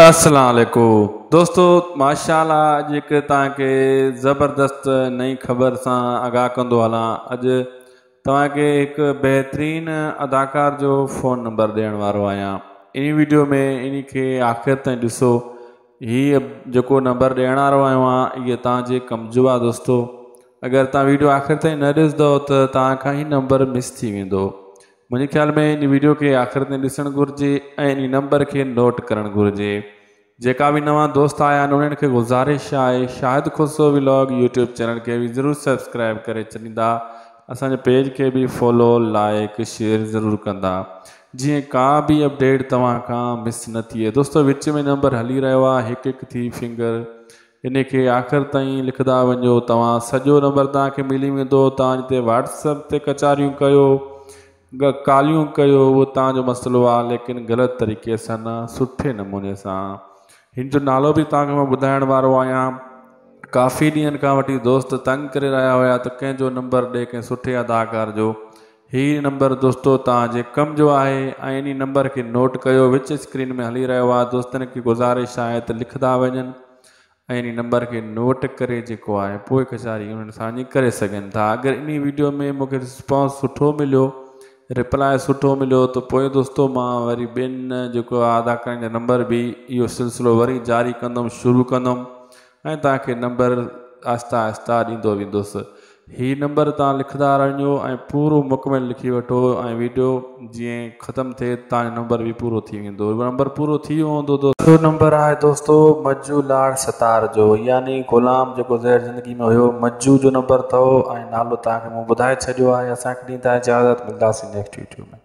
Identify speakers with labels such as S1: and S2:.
S1: السلام عليڪم دوستو ماشاء الله اڄ هڪ توهان کي زبردست نئين خبر سان آگاهه ڪندو هلان اڄ توهان کي هڪ بهترين اداڪار جو فون نمبر ڏيڻ وارو آهيان انهي ويڊيو ۾ انهي کي آخر تائين ڏسو هي جيڪو نمبر ڏيڻ وارو آهيان اهي توهان جي ڪم جو آهي دوستو اگر توهان ويڊيو آخر تائين نه ڏسندو ته توهان کان هي نمبر مس ٿي ويندو منهنجي خيال ۾ ان ويڊيو کي آخر تائين ڏسڻ گهرجي ۽ انهي نمبر کي نوٽ ڪرڻ گهرجي جيڪا به نوان دوست آيا آهن انهن کي گذارش آهي Shahid Khusro vlog YouTube channel کي به ضرور سبسڪرائب ڪري ڇڏيندا اسان جي پيج کي به فالو لائيڪ شيئر ضرور ڪندا جيئن ڪا به اپڊيٽ توهان کان مس نه ٿئي دوستو وچ ۾ نمبر هلي رهيو آهي هڪ هڪ ٿي فنگر انهي کي آخر تائين لکندا وڃو توهان سڄو نمبر توهان کي ملي ويندو توهان جي تي واٽس اپ تي ڪچاريون ڪيو ڪاليون ڪيو اهو توهان جو مسئلو آهي ليڪن غلط طريقي سان نه سٺي نموني سان هن جو نالو به توهان کي مان ٻڌائڻ وارو آهيان ڪافي ڏينهن کان وٺي دوست تنگ ڪري رهيا هيا ته ڪنهن جو نمبر ڏي ڪنهن سٺي اداڪار جو هي نمبر دوستو توهان جي ڪم جو آهي ۽ انهي نمبر کي نوٽ ڪيو وچ اسڪرين ۾ هلي رهيو آهي دوستن کي گذارش آهي ته لکندا وڃن ۽ انهي نمبر کي نوٽ ڪري جيڪو آهي پوء ڪچهري انهن سان وڃي ڪري سگهن ٿا اگر انهي ويڊيو ۾ مون کي رسپانس سٺو مليو رپلاء سٺو مليو ته پوء دوستو مان وري ٻين جيڪو آهي ادا ڪرڻ جو نمبر به اهو سلسلو وري جاري ڪندم شروع ڪندم ۽ توهان کي نمبر آهستي آهستي ڏيندو ويندس. هي نمبر توهان لکندا رهنجو ۽ پورو مڪمل لکي وٺو ۽ ويڊيو جئين ختم ٿئي ته توهان جو نمبر به پورو ٿي ويندو. نمبر پورو ٿي ويو هوندو دوستو. ٻيو نمبر آهي دوستو مجو لاڙ ستار جو يعني غلام جيڪو زهر زندگي ۾ هيو مجو جو نمبر اٿئو ۽ نالو توهان کي مون ٻڌائي ڇڏيو آهي. اسان کي ڏيندا اجازت ملداسين نيڪسٽ ويڊيو ۾.